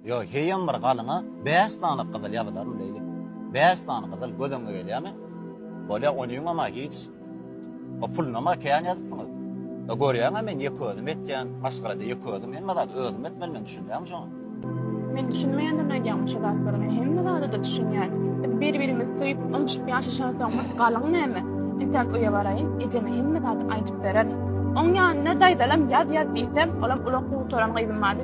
Ýo, heýem bir galyňa bäş sany gyzyl ýazylaryn beýle. Bäş sany gyzyl göz öňüňe gelýärmi? Bolýa, onyňam-a hiç. O pulunam-a kän ýazypsyňyz. Ýa, görýäň-ä men ýeke özüm etýän, maşgalada ýeke özüm hemme zady özüm etmeli men, düşünýäňmi şoňa? Men düşünmeýändirin aýdýaňmy şo zatlary, men hemme zada-da düşünýän. Biz bir-birimizi söýüp, ynjyşyp ýaşaşansoň bir galyň näme? Entäk öýe baraýyn, ejeme hemme zady aýdyp bererin. Oň ýanynda daýzalam ýaz-ýaz diýsem, olam ulag gutaran gyzym bardy.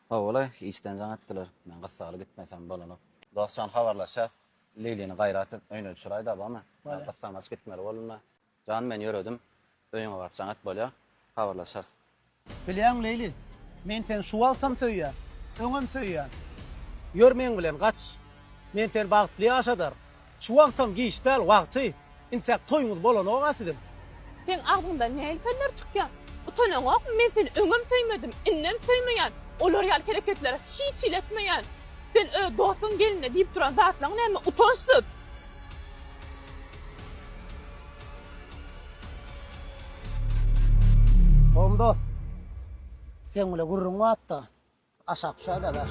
Howly, işden jaň etdiler. Men gyssagly gitmesem bolanok. Dostjan habarlaşýas. Lilini gaýra atyp öýüne düşüräýdä barmy? Men gyssagmaç gitmeli boldum-da. Jan, men ýöredim. Öýüňe baryp jaň et bolýa. Habarlaşarys. Bilýäňmi Lili, men seni şu wagtam söýýän. Öňem söýýän. Ýör meň bilen, gaç. Men seni bagtly ýaşadar. Şu wagtam giç däl wagty. Intäk toýuňyz bolanok-a siziň. Seň agzyňdan nähili sözler çykýar? Utanaňokmy men seni öňem söýmedim, indem söýmeýän, olar ýaly hereketleri hiç hili etmeýän. Sen öz dostuň geline diýip duran zatlaň näme utançsyz. Gowum dost. Seň bile gürrüň batda. Aşak düşer de daş.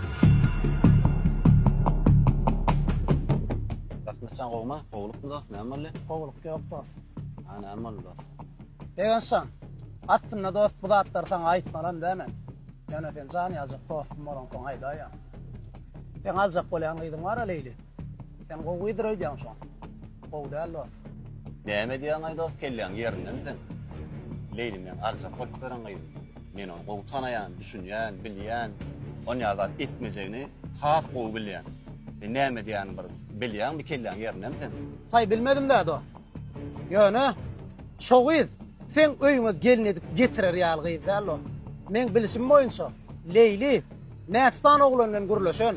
Gatnaşan gowma, gowluk mu dost, näme boldy? Gowluk ýok dost. Ha, näme boldy dost? Begençjan, aslynda dost bu zatlary saňa aýtmalam dä men. Ýöne sen jan ýaljak dostum bolansoň aýdaýan. Sen aljak bolýan gyzyň bar-a Leýli. Sen gowydyr öýdýäň şoň. Gowy däl dost. Näme edýäň-aý dost, kelläň ýerindemi sen? Leýli meň aljak bolup ýören gyzym. Men ony gowy tanaýan, düşünýän, bilýän. Ony ýaly zat etmejegini has gowy bilýän. Sen näme edýänini bir bilýäňmi kelläň ýerindemi seň? Saý bilmedim-dä dost. Ýöne şo gyz seň öýüňe gelin edip getirer ýaly gyz däl dost. Meň bilişim boýunça Leýli näçe sany oglan bilen gürleşen.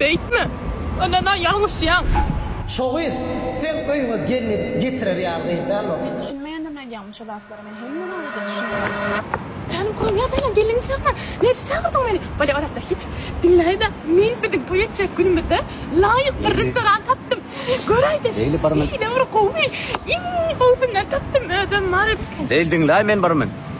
Beýtme! Ondan-a ýalňyşýaň! Şo gyz seň öýüňe gelin edip getirer ýaly gyz dälok. Düşünmeýändim aýdýaňmy şu zatlary men hemme wagtda düşünýän. Janyň kowup ýatanyň gelin isläpmi? Näçe çagyrdyň meni? Bolýa ozatda hiç. Diňläýdä men biziň toý etjek günümizde laýyk bir restoran tapdym. Göräýdä şeýle bir gowy iň gowusyndan tapdym özem Mary biken. Leyli diňläý men birmen.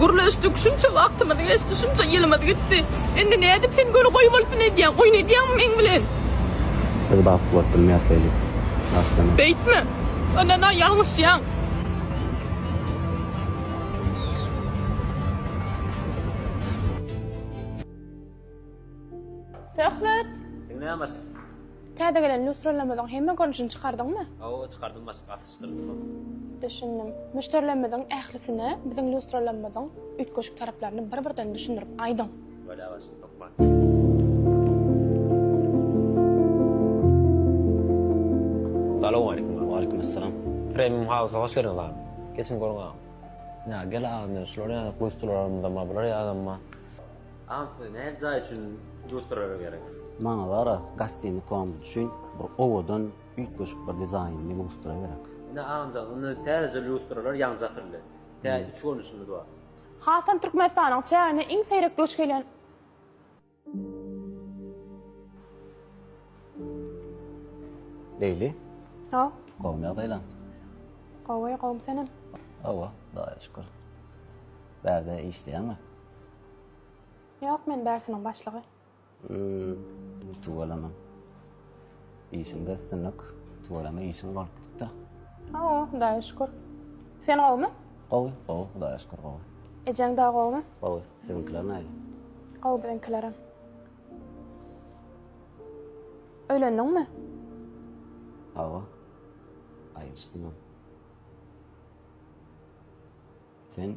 Gürleşdik. Şunça wagtymyz geçdi, şunça ýylymyz gitdi. Indi nädip sen göni goýbolsun edýäň? Oýun edýäňmi meň bilen? Biz bagt bolup bilmeris beýle. Aslynda. Beýtme. Ynana, ýalňyşýaň. Söhbet. Diňläň başyk. Täze gelen lýustralarymyzyň hemme görnüşini çykardyňmy? Hawa, çykardym başyk, asyşdyrdym ony. Düşündim. Müşderilerimiziň ählisine biziň lýustralarymyzyň üýtgeşik taraplaryny bir-birden düşündirip aýdyň. Bolýar başyk, hökman. Salowmaleýkim agam. Waleýkimessalam. Premium House-a hoş geldiňiz agam. Geçiň görüň agam. Ýa gel agam, ýöne şular ýaly lýustralarymyzam bar, bular ýalam bar. Anfy nädip jaý üçin dustrara gerek. Maňa bara gassini kombi üçin bir owadan üýtgeşik bir dizaýnly lustra gerek. Ine agmjak indi täzeje lustralar ýaňja atyldy. Tä üç görnüşimiz bar. Hasam Türkmenistanyň çägine iň seýrek duş gelýän. Leýli. Haw. Gowmy ýagdaýlaň? Gowy, gowmy senem? Hawa, Hudaýa şükür. Bärde işleýäňmi? Ýok men bärsiniň başlygy. Yy, tüweleme. Işiňde üstünlik. Tüweleme işiň bolup gidipdir. Hawa, Hudaýa şükür. Sen gowumy? Gowy, gowy, Hudaýa şükür gowy. Ejeň dagy gowumy? Gowy. Siziňkiler nähili? Gowy biziňkilerem. Öýlendiňmi? Hawa. Aýryşdym. Sen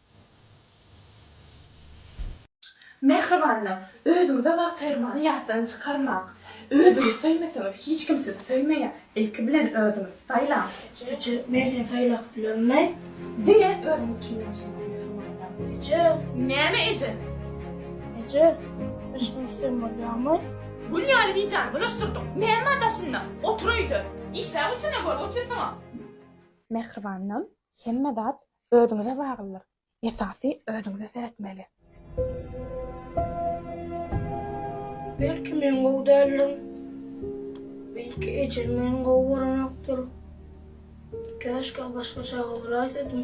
Mähribanlar, özüňize wagt aýyrmagy ýatdan çykarmaň. Özüňiz söýmeseňiz, hiç kim sizi söýmeýär. Ilki bilen özüňizi saýlaň. Söýüji nähili saýlap bilermi? Diňe özüňiz üçin ýaşaň, mähribanlar. Eje! Näme eje? Eje, daşyňy ýyksam bolýarmy? Gül ýaly bijany bulaşdyrdyň. Näme daşynda? Otur öýde. Işläp otur, näme bolup otyrsyň-a? Mähribanlar, hemme zat Özüňize baglydyr. Esasy özüňize seretmeli. Belki men gowy däldim. Belki ejem meni gowy görenokdyr. Käşgä başgaça garaýsydym.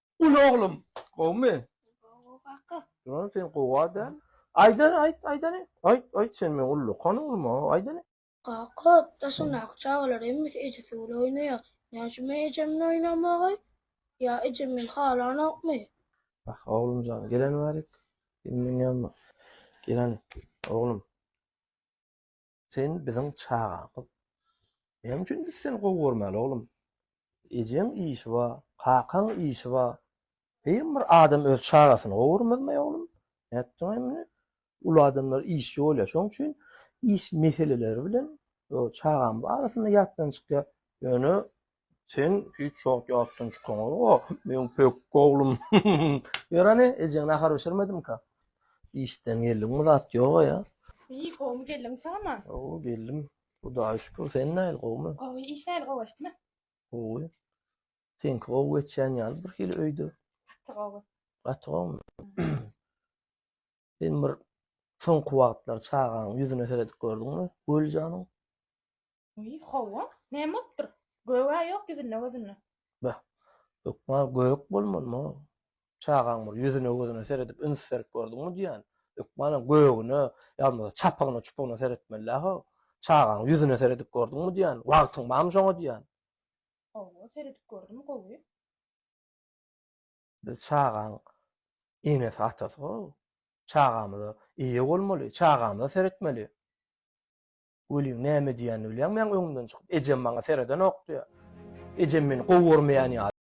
Uly oglum gowmy? Gowy kaka. Ýöne sen gowy adam. Aýdar aýt aýdany. Aýt aýt sen meň ullakan oglum-a aýdany. Kaka, daşyndaky çagalar hemmesi ejesi bilen oýnaýar. Näme üçin men ejem bilen oýnamagy? Ýa ejem meni halanokmy? Wah, oglum jan, geleniberik. Sen meň ýanyma. Geleni, oglum. Sen biziň çagamyz. Näme üçin biz seni gowy görmäli, oglum? Ejeň işi bar, kakaň işi bar. Heý, bir adam öz çagasyny gowy görmezmi, oglum? Nätdiň-aý muny? Uly adamlar işçi bolýar, şonuň üçin iş meseleleri bilen çagam arasynda ýatdan çykýar. Ýöne Sen hiç wagt ýatdan çykaňa, meň pökgi oglum. Ýöreni, ejeň nahar bişirmedimka. Işden geldiňmi, zat ýog-a ýa? Eý, gowumy geldim, sagmy? Gowy geldim. Hudaýa şükür, sen nähili, gowumy? Gowy, iş nähili, gowy geçdimi? Gowy. Seňki gowy geçýän ýaly birhili öýde. Gaty gowy. Gaty gowumy? Sen bir soňky wagtlar çagaň ýüzüne seredip gördüňmi, Göljanyň? Uý, hawa, näme bolupdyr? Gög-ä ýok ýüzünde-gözünde. Beh, hökman gök bolmalymy? Çagaň bir ýüzüne-gözüne seredip üns berip gördüňmi diýýän. Hökmanam gögüne, ýa-da çapygyna-çupygyna seretmeli-dä-how. Çagaň ýüzüne seredip gördüňmi diýýän. Wagtyň barmy şoňa diýýän. Hawa, seredip gördüm, gowy. Biz çagaň enesi-atasy-how. Çagamyza eýe bolmaly, çagamyza seretmeli. Welin, näme edýänini bilýäňmi? Ýaňy öňümden çykyp, ejem maňa seredenokdy. Ejem meni gowy görmeýän ýaly.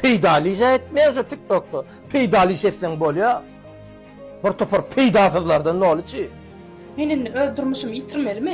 peýdaly iş etmeýärse TikTokda peýdaly iş etseň bolýar. Bir topar peýdasyzlardan doly çi. Men indi öz durmuşymy ýitirmelimi?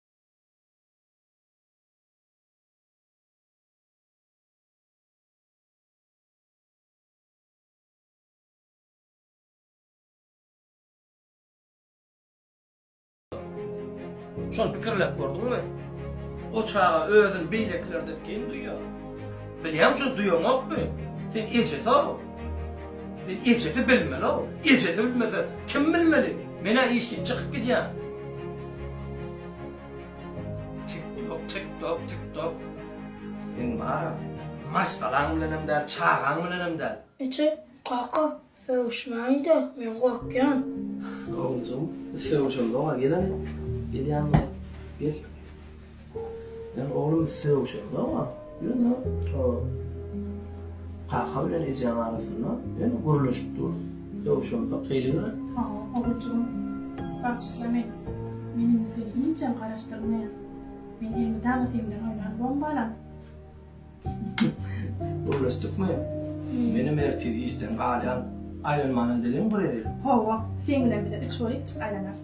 Şol pikirläp gördüňmi? O çaga özüni beýlekilerden geň duýýar. Bilýäň, şo duýaňokmy? Sen ejesi-ow. Sen ejesi bilmeli-ow. Ejesi bilmese, kim bilmeli? Men-ä işleyip çykyp gidýän. Tik-tok, tik-tok, tik-tok. Seň bar-a, maşgalaň bilenem däl, çagaň bilenem däl. Eje, kaka, sögüşmäň-de, men gorkýan. Oglujygym, biz sögüşemzok-a, gel-ä, gelýäňmi? Gel. Ýöne oglum sögüşeňde oňa, ýöne kaka bilen ejäň arasynda ýöne gürleşip durus, sögüşemzok hili görä. Hawa, oguljygym, bagyşla meni. Men indi seni hiçem garaşdyrmaýan. Men elmydama seň bilen oýnan bombalam. Gürleşdikmi? Menem ertir işden galýan, aýlanmana diliň guryr. Hawa, seň bilen bize üç bolýupjyk aýlanarys.